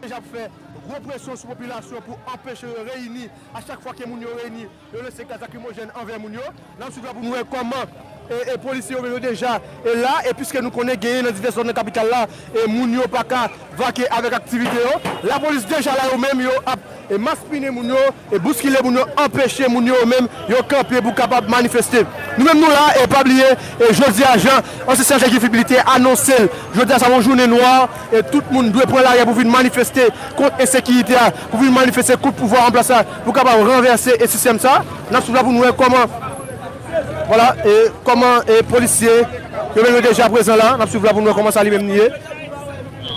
deja ap fè gwo presyon sou popilasyon pou anpeche yo reyini, a chak fwa ke moun yo reyini yo lanse gaz lakrimojèn anvè moun yo, nap swiv la pou nou wè kòman polisye yo menm yo deja la, e piske nou konnen genyen nan divès zòn nan kapital la moun yo paka vake avèk aktivite yo, lapolis deja la yo menm yo ap maspinen moun yo. E bouskile moun yo anpeche moun yo menm yo kanpe pou kapab manifeste. Nou menm nou la e pa bliye e jodi a jan ansyen sèje Guifi Blitte anonse l jodi a sa yon jounen nwa e tout moun dwe pran lari a pou vin manifeste kont ensekiyite a pou vin manifeste kont pouvwa anplas la pou kapab ranvèse e sistèm sa n ap swiv la pou nou wè kòman vwala e kòman e polisye yo menm yo deja prezan la n ap swiv la pou nou wè kòman sa li menm li ye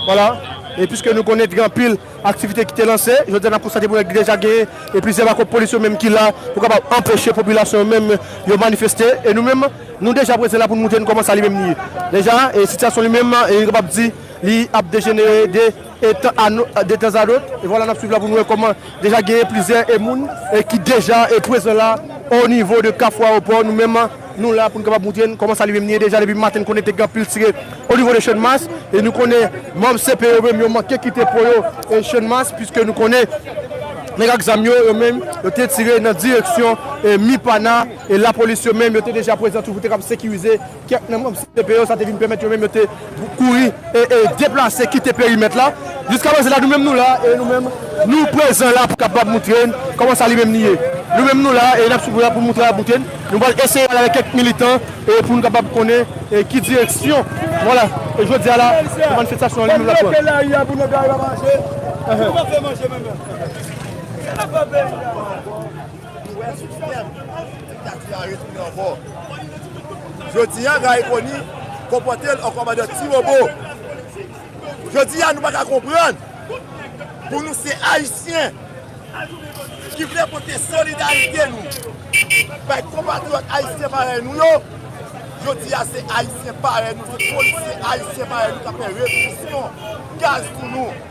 vwala e piske nou konnen t gen anpil. Aktivite ki te lanse, jodi a n ap konstate pou wè ki deja gen e plizyè bako polis yo menm ki la pou kapab anpeche popilasyon yo menm yo manifeste e nou menm nou deja prezan la pou nou montre nou kòman sa li menm li ye deja e sitiyasyon li menm e nou kapab di li ap dejenere de etan a nou de tan zadot e vwala n ap swiv la pou nou wè kòman deja gen plizyè e moun e ki deja e prezan la o nivo de kafou aewopò nou menm. Nou la pou n kapab moutre n kòman sa li menm li ye deja depi maten n konnen te gen anpil tirè o nivo de Channmas e nou konnen manm CP yo menm yo manke kite po yo e Channmas puiske nou konnen nèg ak zam yo yo menm yo te tire nan direksyon e Mipana e lapolis yo menm yo te deja prezan tou pou te kapab sekirize kèk nan manm CP yo sa te vin pèmèt yo menm yo te kouri e e deplase kite perimèt la jiska prezan la nou menm nou la e nou menm nou prezan la pou kapab moutre n kòman sa li menm li ye nou menm nou la e n ap sou la pou moutre a moutre n nou pral eseye pale avèk kèk militan e pou nou kapab konnen e ki direksyon vwala e jodi a la se manifestasyon an li menm l ap pran. Kote nou pran peyi a pou nou ka rive manje? Kote nou pran peyi a pou nou ka rive manje? Ou wè sou sistèm diktati a retounen ankò. Jodi a Gary Conille konpòte l an kòmandè ti wobo. Jodi a nou pa ka konprann pou nou se Ayisyen ki vle pote solidarite nou bay konpatriyòt Ayisyen parèy nou yo, jodi a se Ayisyen parèy nou, se polisye Ayisyen parèy nou k ap fè represyon, gaz pou nou.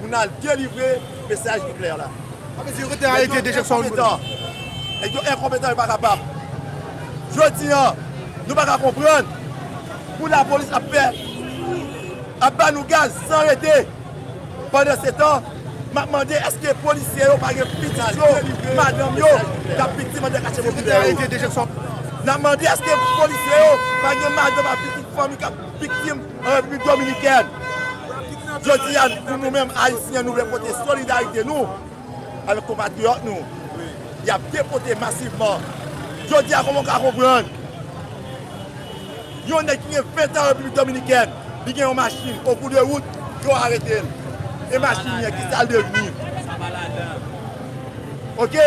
pou n al delivre mesaj ki klè la. Nèg yo enkonpetan, nèg yo enkonpetan yo pa kapab. Jodi an, nou pa ka konprann pou lapolis ap fè, ap ba nou gaz san rete. Pandan se tan, m ap mande èske polisye yo pa gen pitit yo, madanm yo k ap viktim andan kache popilè yo? N ap mande èske polisye yo pa gen madanm ak pitit fanmi k ap viktim? An Repiblik Dominikèn, jodi a pou nou menm Ayisyen nou vle pote solidarite nou avèk konpatriyòt nou y ap depote masivman. Jodi a kòman ou ka konprann yon nèg ki gen 20 an Repiblik Dominikèn li gen yon machin o kou de wout yo arete l e machin li an ki sa l devni? Ok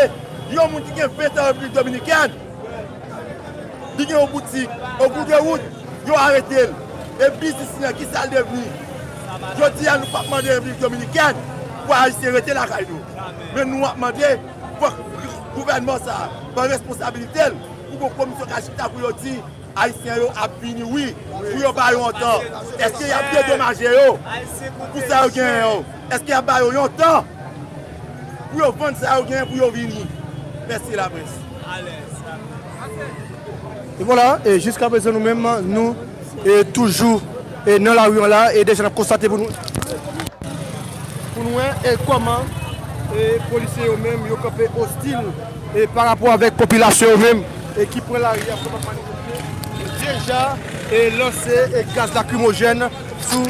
yon moun ki gen 20 an Repiblik Dominikèn li gen yon boutik o kou de wout. Yo arete l, e biznis li an kisa l devni? Jodi a nou pap mande Repiblik Dominikèn pou Ayisyen rete lakay nou, men nou ap mande fòk gouvènman sa pran responsabilite l pou bon komisyon ka chita pou yo di Ayisyen yo ap vini wi, pou yo ba yo yon tan. Eske y ap dedomaje yo pou sa yo genyen yo? Eske y ap ba yo yon tan pou yo vann sa yo genyen pou yo vini? Mèsi laprès. E vwala, e jiska prezan nou menm, nou e toujou e nan lari an la, e deja nap konstate pou nou, pou nou wè e kòman e polisye yo menm yo kanpe ostil e pa rapò avèk popilasyon yo menm e ki pran lari a pou yo pa manifeste, deja e lanse e gaz lakrimojèn. sou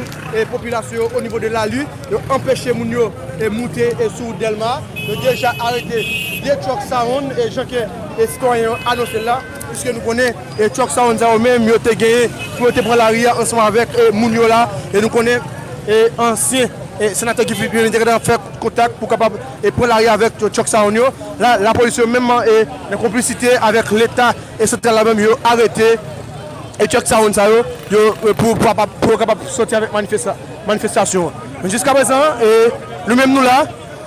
popilasyon yo onivo de Lali, yo anpeche moun yo moute sou Dèlma, yo deja arete 2 truck sawonn jan ke sitwayen yo anonse l la, piske nou konnen truck sawonn sa yo menm yo te genyen pou yo te pran lari a ansanm avèk moun yo la, e nou konnen ansyen senatè Guy Philippe menm li te gentan fè kontak pou kapab pran lari a avèk truck sawonn yo, la lapolis yo menm nan konplisite avèk leta santral la menm yo arete. E kèk sawonn sa yo, yo pou yo kapab pou yo kapab sòti avèk manifesta manifestasyon an. Men jiska prezan an e nou menm nou la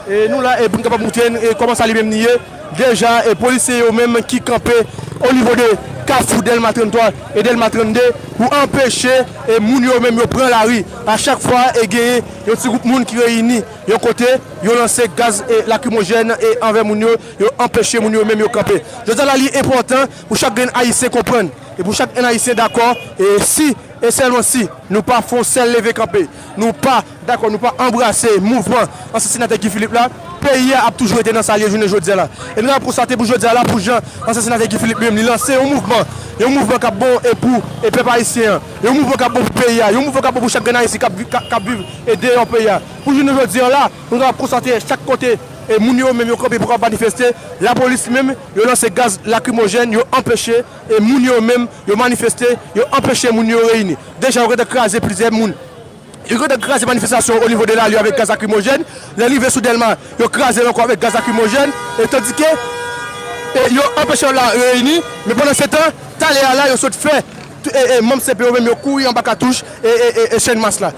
e nou la e pou nou kapab moutre n e kòman sa li menm li ye deja e polisye yo menm ki kanpe o nivo de kafou Dèlma 33 e Dèlma 32 pou anpeche e moun yo menm yo pran lari. A chak fwa e genyen yon ti gwoup moun ki reyini yon kote, yo lanse gaz e lakrimojèn e anvè moun yo, yo anpeche moun yo menm yo kanpe. Jodi a la li enpòtan pou chak grenn Ayisyen konprann e pou chak grenn Ayisyen dakò e si e sèlman si nou pa fè yon sèl leve kanpe, nou pa dakò, nou pa anbrase mouvman ansyen Senatè Guy Philippe la, peyi a ap toujou rete nan sa l ye jounen jodi a la. E nou ta konstate pou jodi a la pou jan ansyen Senatè Guy Philippe li menm li lanse yon mouvman, yon mouvman k ap bon e pou e pèp Ayisyen an, yon mouvman k ap bon pou peyi a, yon mouvman k ap bon pou chak grenn Ayisyen k ap vi, k ap viv e deyò peyi a. Pou jounen jodi a la, nou kapab konstate chak kote e moun yo menm yo kanpe pou kapab manifeste, lapolis li menm, Yo lanse gaz lakrimojèn, yo anpeche moun yo menm yo manifeste, yo anpeche moun yo reyini. Deja yo gentan kraze plizyè moun, yo gentan kraze manifestasyon o nivo de lari avèk gaz lakrimojèn, lè rive sou Dèlma yo kraze l ankò avèk gaz lakrimojèn e tandike yo anpeche yo la reyini. Men pandan se tan, talè a la yo sot fè manm CP yo menm yo kouri anba katouch e chènmas la.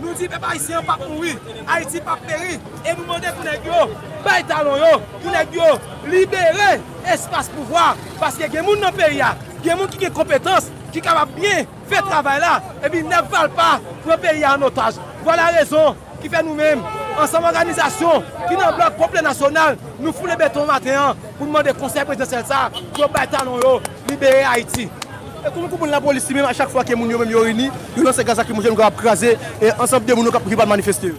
Nou di pèp ayisyen an pap mouri, Ayiti pap peri e nou mande pou nèg yo bay talon yo, pou nèg yo libere espas pouvwa paske gen moun nan peyi a, gen moun ki gen konpetans ki kapab byen fè travay la epi nèg valpa pran peyi a an otaj. Vwala rezon ki fè nou menm ansanm òganizasyon ki nan blòk popilè nasyonal nou foule beton maten an pou nou mande konsèy prezidansyèl sa yo bay talon yo, Libere Ayiti! E kouman konprann lapolis li menm a chak fwa ke moun yo menm yo reyini, yo lanse gaz lakrimojèn oubyen ap kraze ansanm de moun yo ki pral manifeste yo?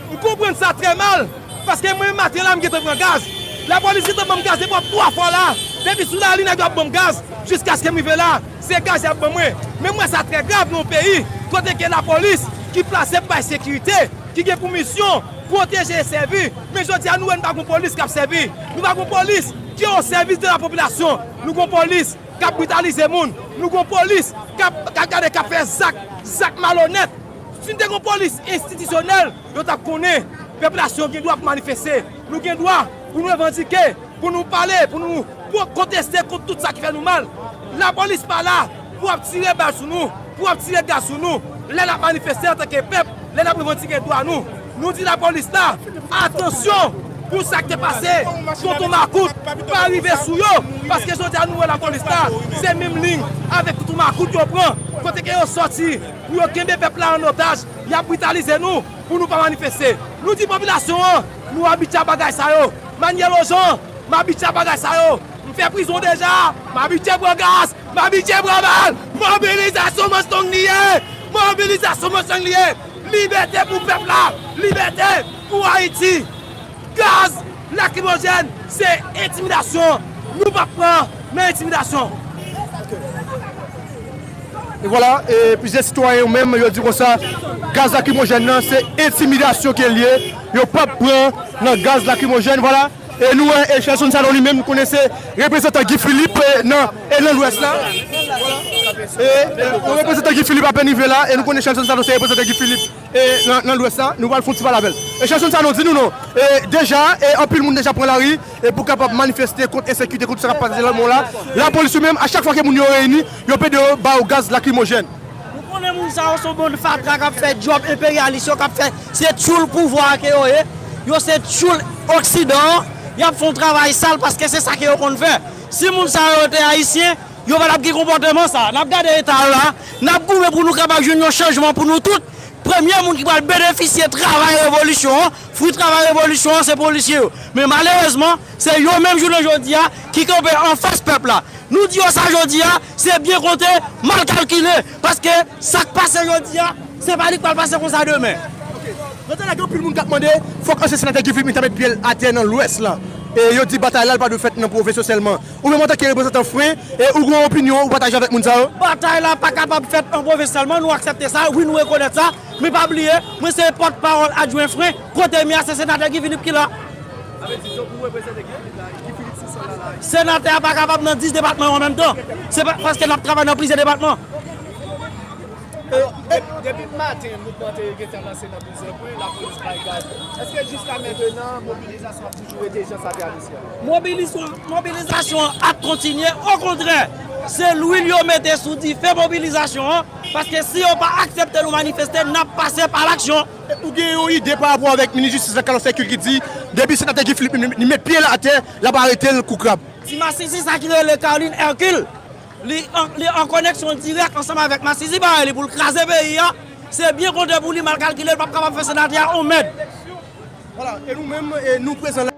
M konprann sa trè mal, paske mwen menm maten la m gentan pran gaz. Lapolis gentan banm gaz depi wap 3 fwa la, depi sou lari nèg yo ap banm gaz jiskaskem rive la, se gaz yap ban mwen. Men m wè sa trè grav nan yon peyi kote ke lapolis ki plase pou bay sekirite, ki gen pou misyon pwoteje e sèvi, men jodi a nou wè nou pa gon polis kap sèvi, nou pa gon polis. Ki yo osèvis de la popilasyon, nou gon polis kap britalize moun, nou gon polis kap gade kap fè zak, zak malonèt. Si nou te gon polis enstitisyonèl, yo tap konnen pepilasyon gen dwa pou manifeste, nou gen dwa pou nou revandike, pou nou pale, pou nou konteste kont tout sa ki fè nou mal. Lapolis pa la Pou ap tire bal sou nou, pou ap tire gaz sou nou, lè nap manifeste antanke pèp, lè nap revandike dwa nou, nou di lapolis la, atansyon pou sak te pase Tonton Makout pa rive sou yo, paske jodi a nou wè lapolis la se menm liy avèk Tonton Makout yo pran, kote ke yo sòti pou yo kenbe pèp la an otaj, yap britalize nou pou nou pa manifeste. Nou di popilasyon an, nou abitye a bagay sa yo, Manyè Lojan, m abitye a bagay sa yo, m fè prizon deja, m abitye pran gaz, Mabitye Bramal! Mobilizasyon mansong li ye! Mobilizasyon mansong li ye! Libète pou pèp la! Libète pou Ayiti! Gaz lakrimojèn se entimidasyon! Nou pap pran nan entimidasyon! E vwala, e plizyè sitwayen yo menm yo di konsa, gaz lakrimojèn nan se entimidasyon ke l ye, yo pap pran nan gaz lakrimojèn, vwala. E nou wè e Shelson Sanon li menm konnen se reprezantan Guy Philippe nan e nan lwès la. E yon reprezantan Guy Philippe ape rive la e nou konnen Shelson Sanon se reprezantan Guy Philippe e nan lwès la. Nou pral fon ti pale avè l. E Shelson Sanon di nou non e deja e anpil moun deja pran lari e pou kapab manifeste kont ensekite kont sa k ap pase nan mou la. Lapolis yo menm a chak fwa ke moun yo reyini yo pede yo ba yo gaz lakrimojèn. Nou konnen moun sa yo son bann fatra kap fè djòb enperyalis yo kap fè se tyoul pouvwa a ke yo ye, yo se tyoul oksidan an, yap fon travay sal paske se sa ke yo konn fè. Si moun sa yo te ayisyen, yo patap gen konpòteman sa. Nap gade eta yo la, nap goumen pou nou kapab jwenn yon chanjman pou nou tout, premye moun ki pral benefisye travay revolisyon an, fwi travay revolisyon an se polisye yo. Men malerezman se yo menm jounen jodi a ki kanpe anfas pèp la. Nou di yo sa jodi a, Se byen konte, mal kalkile, paske sa k pase jodi a, se pa li k pral pase konsa demen. Nan tèt la gen anpil moun k ap mande, fòk ansyen senatè Guy Philippe ta met pye l atè nan Lwès la. E yo di batay la l pa dwe fèt nan pwovens yo sèlman. Ou menm antanke reprezantan fre, e ou gen yon opinyon ou pataje avèk moun sa yo? Batay la pa kapab fèt nan pwovens sèlman, nou aksepte sa, wi nou rekonèt sa, men pa bliye, mwen se pòtpawòl adjwen fre, kote m ye a se senatè Guy Philippe ki la. Senatè a pa kapab nan 10 depatman yo an menm tan. Se paske n ap travay nan plizyè depatman. Mobilizasyon an ap kontinye. Okontrè, se lwil yo mete sou dife mobilizasyon an. Paske si yo pa aksepte nou manifeste, n ap pase pa laksyon. Ou gen yon ide pa rapò avèk minis jistis la Carlos Hercule ki di depi senatè Guy Philippe li met pye l atè l ap arete l kou krab. Ti masisi sa ki rele Carline Hercule li an koneksyon dirèk ansanm avèk masisi parèy li pou l kraze peyi a, se byen konte pou li mal kalkile l pap kapab fè senatè a on mèd. Voila e nou menm nou prezan la.